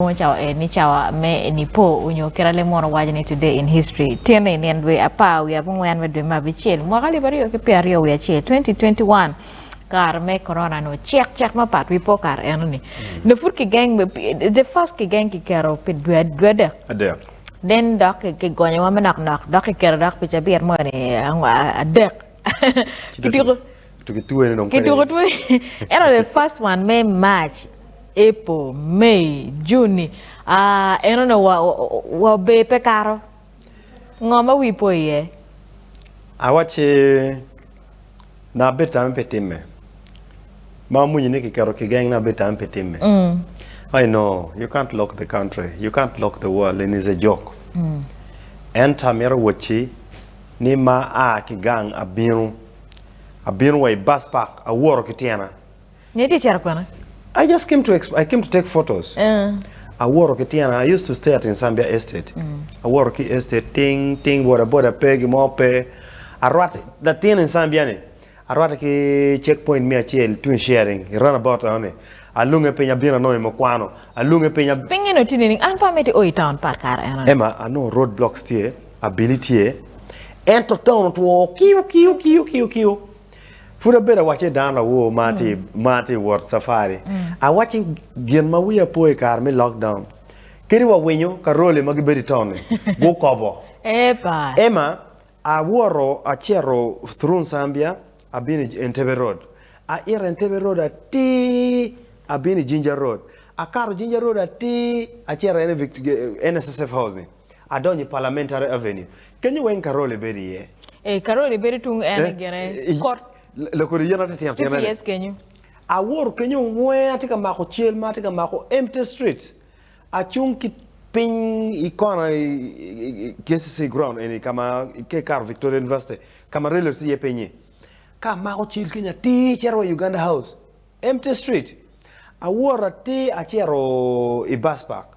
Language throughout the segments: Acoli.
Nongo cawa en ni cawa me Nipo onyo kit a leb mono waco ni Today in History, Tyene i nino dwe apar wiye abongwen me dwe me abicel, mwaka alip aryo ki pyera aryo wiye acel, 2021, kare me Corona ni ocek cek mapat wi po kare eno ni nyo pud ki geng me the first ki geng ki keto pi dwe adek, then dok ki gonyo wa manok nok dok ki keto dok pi cabit mono ni adek ki tuko. Kituko twene ento the first one me March, April, May, June-ni en onongo wa ober pe kato. Ngo ma wii po iye? Awacci nanga abedo tame pi timme. Ma amwinyo ni kiketo kigeng nanga abedo tame pi timme. I know you can't lock the country, you can't lock the world and it's a joke. Ento amito wacci ni ma aa ki gang abino. Abino wa i bus park, aworo ki tyena. Nyo itye cito kwene? I just came to I came to take photos. Aworo ki tyena, I used to stay at Insambia Estate. Aworo ki estate ting ting boda boda pe gimo pe. Arwat latin Insambia ni arwate ki check point me acel tung i sharing i run about eno ni. Alunge piny abino anongo i mukwano. Alunge piny. Pinge ni otini nining? An pe amito i o i town part kare eno ni. Emma, anongo road blocks tye. abili tye, ento taun otwo kiu kiu kiu kiu kiu. Pud abedo awacce i dano lawor ma tye ma tye ka wot cafari. Awacci gin ma wiya po i kare me lockdown kadi wa winyo Karole ma gibedo i taun-ni gukobo. Epa. Emma, awoto acito through Nsambia abino i Entebbe Road, aito Entebbe Road atir abino i Jinja Road, akato Jinja Road atir acito NSSF House-ni. Adonyo i Parliamentary Avenue. Kenyo weng Karoli bedo iye. Ee, Karoli bedo tung en gire kot. Lakodi yen atitino tino ni. CPS kenyo. Awoto kenyo wenge atye ka mako cel ma atye ka mako empty street. Acung ki piny i kona i KCC ground eni ka ma ka ikato Victoria University ka ma railroad tye iye pinyi. Ka amako cel kenyo atir cito wa i Uganda House. Empty street. Awoto atir acito i Bus Park.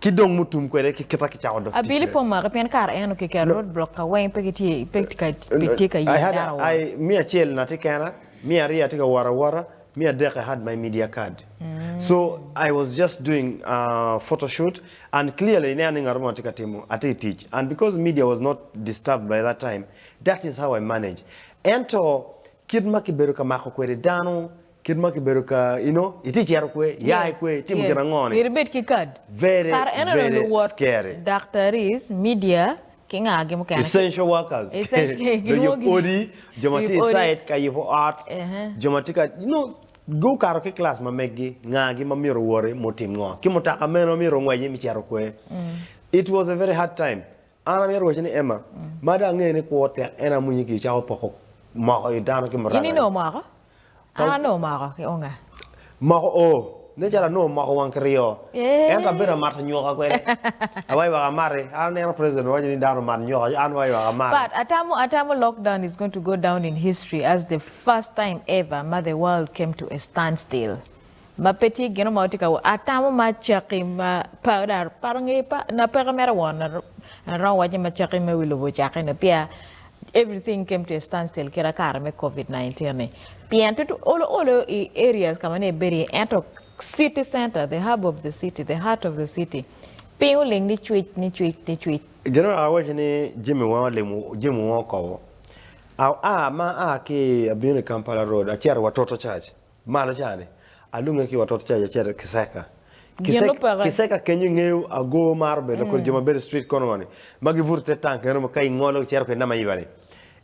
Ki dong mutum kwede ki kita kicako dok tic Abili pe kwede. omake pien kara en okiketo No. road block ka weng pe gitye pe ka pe tye ka I yero had dano I wot. me acel na tye kena, me aryo atye ka wot awota, me adek I had my media card. So I was just doing photo shoot and clearly ineno ni ngat mo atye ka timo atye I tic and because media was not disturbed by that time that is how I manage. Ento kit ma kibedo ka mako kwede dano Kit ma kibedo ka you know itye cito kwe, ya i kwe, itimo gin ango ni. Myero ibed ki card. Very Kare eno very luwot scary. Daktaris, media ki nga gi mukene. Essential workers. Essential jo yub odi, jo ma tye site ka yubo ot, jo ma tye ka you know gukato ki class ma meggi nga gi ma myero owoti mutim ngo ki mutaka meno myero ongweci me cito kwe. It was a very hard time An amito rwocci ni Emma, ma dong angeyo ni kwo tek en amwinyi ki icako poko moko i dano ki muranga. In inongo moko? An anongo moko ki unga. Moko oo, nen calo anongo moko wang kiryo. Ento abedo amato nyuka kwede. Awaywak amati. An aneno president owaco ni dano omat nyuka ci an waywak amati. But atamo atamo lockdown is going to go down in history as the first time ever ma the world came to a standstill. ma pe tye gino ma watye ka wot atamo ma caki ma pa pa nge pa na peke mere won aromo waco ma caki me wi lobo ocake ni pia everything came to a stand still kira kare me covid 19 ni pien tut olo olo i areas ka ma ne ibedo iye ento city center the hub of the city the heart of the city piny oling ni cwic ni cwic ni cwic Gin ma awaco ni jami weng olimo jami weng okobo. A a ma aa ki abino i Kampala road acito wa Toto church. Malo ca ni, alunge ki watot ca yaceta kiseka. Kiseka kenyo ingeyo agoo maro bedo kodi jo ma bedo street corner ni ma gi buto ite tank eno ka ingolo ki cito kedi nama iba ni.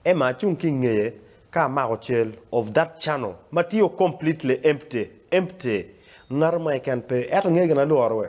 Emma acung ki ingeye ka amako cel of that channel ma tio completely empty, empty. Ngato mo keken pe. Eto ingeyo gin alworo we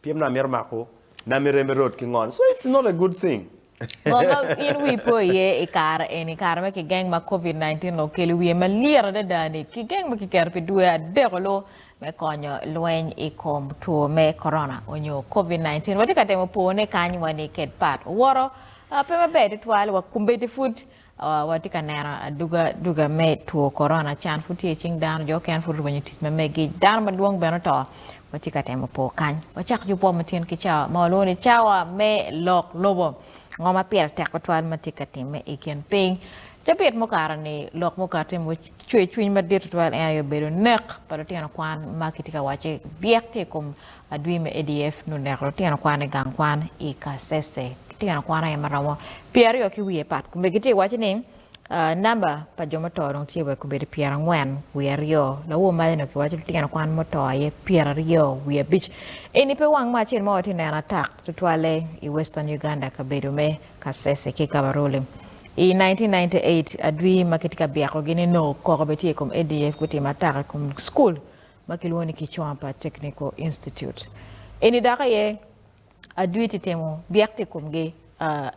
Pyem no amito mako na me reme rot ki ngol so it's not a good thing. Ngo ma in wii po iye i kare eni, kare ma kigeng ma Covid 19 nongo okelo wiye ma lit adada ni kigeng ma kiketo pi dwe adek olu me konyo lweny i kom two me Corona onyo Covid 19. Watye ka temo po ne kany wa ni ked pat owoto pe maber tutwal wa kombeddi pud Watye ka neno aduga duga me two korona, can pud tye icing dano, jo okene pud orwenyo tic ma megi, dano madwong bene oto. Watye ka temo po kany. Wacak ki opwo matyen ki cawa ma walwongo ni cawa me lok lobo. Ngo ma pire tek tutwal ma tye ka timme i kin piny? Cabit mukato-ni, lok mukati ma ocweyo cwiny madit tutwal en aye obedo nek pa lutino kwan ma kitye ka wacce byek tye i kom Adwi me ADF nongo oneko lutino kwan i gang kwan i Kasese. Lutino kwan aye ma romo pye aryo ki wiye pat kome gitye ka waco ni namba pa jo muto dong tye wa i kobedo pyerangwen wiye aryo. Lawo maca nongo kiwaco lutino kwan muto aye pyeraryo wiye abic. Eni pe wang me acel ma watye ka neno atak tutwalle i Western Uganda kabedo me Kasese ki Kabarole. I 1998, adwi ma kitye ka byekogi ni nongo koko bene tye i kom ADF gutimo atak i kom school ma kilwongo ni Kichwampa Technical Institute. Eni dok aye adwi tye timo byek i komgi,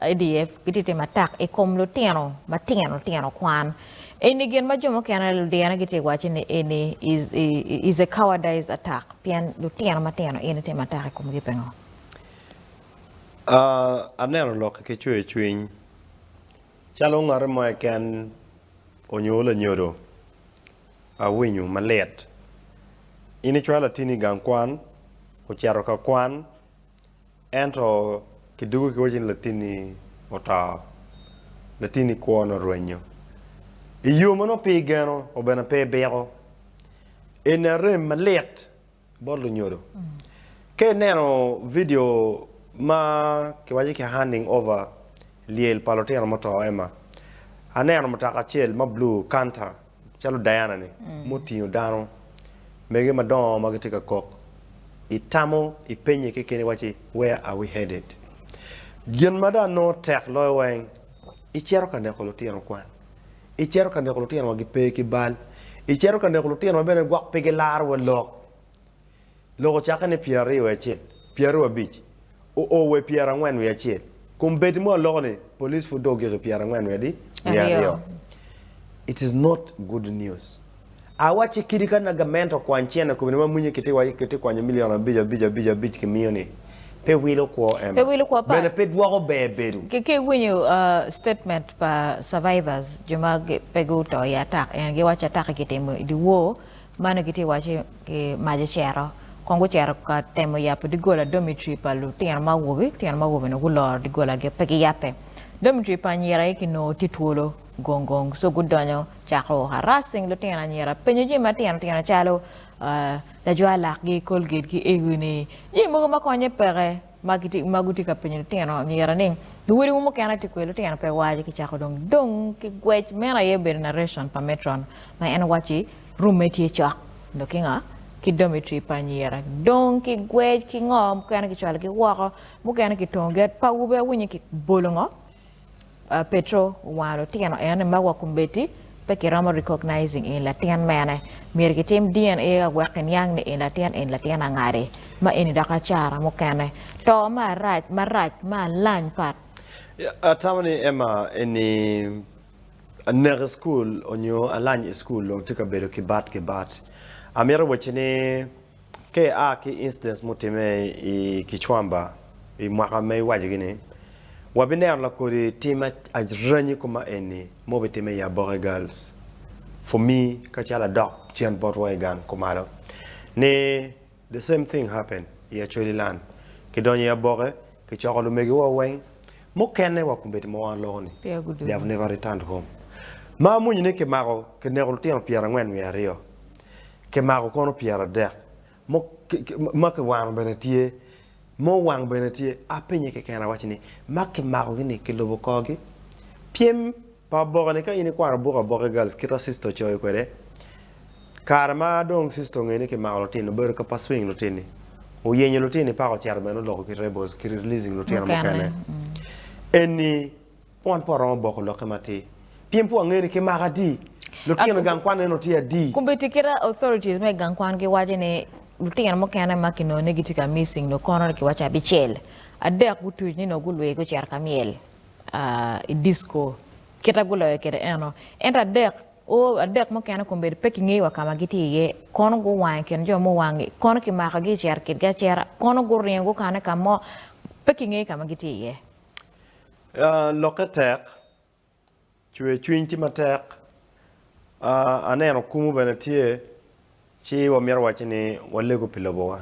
ADF gitye timo atak i kom lutino matino tino kwan. Eni gin ma jo mukene ludyena gitye wacce ni eni is a cowardice attack pien lutino matino in itimo atak i komgi pingo? Aneno lokki ki cwer cwiny calo ngat mo keken onyo lanyodo. Awinyo malit. In icwalo atini i gang kwan, ocito ka kwan, ento kidwogo kiwaco ni latinni oto, latinni kwone orwenyo. I yo ma nongo pe igeno, obene pe ibiko. Eni arem malit Bot lunyodo. Ka ineno vidio ma kiwaco ni ki Handing Over, Lyel pa Lutino Muto, Emma, aneno mutoka acel ma bulu, Canter, calo Diana-ni, ma otingo dano mege madongo ma gitye ka kok. Itamo, ipenye kekeni iwacci, Where are we headed? Gin ma dong nongo tek loyo weng, icito ka neko lutino kwan. Icito ka neko lutino ma gipe ki bal. Icito ka neko lutino ma bene gwok pe gilaro wa lok. Lok ocakke ni pyeraryo wiye acel, pyeraryo abic, oo wa i pyerangwen wiye acel. Kom bedi mo aloko ni police pud dong ogik i pyerangwen wiye adi? Wiye aryo. It is not good news. Awacci kidi ka na gamento kwany cene kome ni ma mwinye ki ti kwanyo milion abic abic abic abic ki miyo ni, pe wilo kwo Emma. Bene pe dwoko ber bedo. Ki iwinyo statement pa survivors jo ma pe gu to i atak eni gi waco atak-ki ki timo i di wor ma nongo ki ti waco ki mac ocero kong gu cero ka temo yabo digola dormitory pa lu tino ma awobi, lu tino ma awobi nongo gu loro digola gi pe gi yabbe. Dormitory pa anyira aye ki nongo ti twolo gong gong so gu donyo Cako harassing lutino anyira. Penyo jami matino tino calo, Lajwar lakgi, Colgate ki Ewi ni jami mogo ma konye peke ma gitye ma gitye ka penyo lutino anyira ni luwodiwu mukene tye kweyo lutino pe waco ki cako dong dong ki gwec meno aye obedo narration pa Metron ma en wacci rume tye cok dong ki nga? ki dormitory pa anyira dong ki gwec ki ngo mukene ki cwalo gi woko mukene ki tongo gi pawu be awinyo ki bolo ngo? Petro owano lutino eno ni ma wa kombeddi pe kiromo recognizing in latin mene. Myero kitim DNA a wek kiniang ni in latin in latin angadi. Ma eni dok acara mukene. To ma arac marac ma alany pat. Atamo ni Emma eni anek i school onyo alany i school dong tye ka bedo ki bat ki bat. Amito wacci ni. Ka ia ki incidents mutimme i Kichwamba i mwaka ma iwaco gi ni, wabineno lakodi tim aranyi kome maeni ma obitimme i Aboke Girls for me kacalo adok cen bot wa i gang kumalo ni the same thing happen i Acholi land kidonyo i Aboke kicoko lumegi wa weng mukene wa kumeti ma wa loko ni they have never returned home ma amwonyo ni kimako kineko lutino pyera angwen wiye aryo kimako kono pyeradek mo ma kiwano bene tye ma owang bene tye apenye keken awaci ni ma kimako gi ni kilubo korgi pyem pa oboke ni ka in ikwano buk aboke girls kita sister ocoyo kwede kare ma dong sister ongeyo ni kimako lutino obedo ka pursuing lutini oyenyo lutini paka ocito bene oloko ki rebels ki releasing lutino mukene eni Wan pe waromo boko lokke matir. Pien pe wangeyo ni ki mako adi. Lutino i gang kwan eno tye adi? Komitti ki dok authorities me gang kwan giwaco ni lutino mukene ma kinongo ni gitye ka missing nongo kono ni kiwaco abicel. Adek gutuc ni nongo gulwir gucito ka myel i disco kite guloyo kwede eno. Ento adek o adek mukene kombeddi pe kingeyo wa ka ma gitye iye. Kono guwang i kin jo muwangi. Kono kimakogi i cero kitgi acera. Kono guringo gukane ka mo pe kingeyo ka ma gitye iye. Lokke tek, cwer cwiny tye matek. Aneno kumo bene tye, ci wamito wacci ni walego pi lobowa.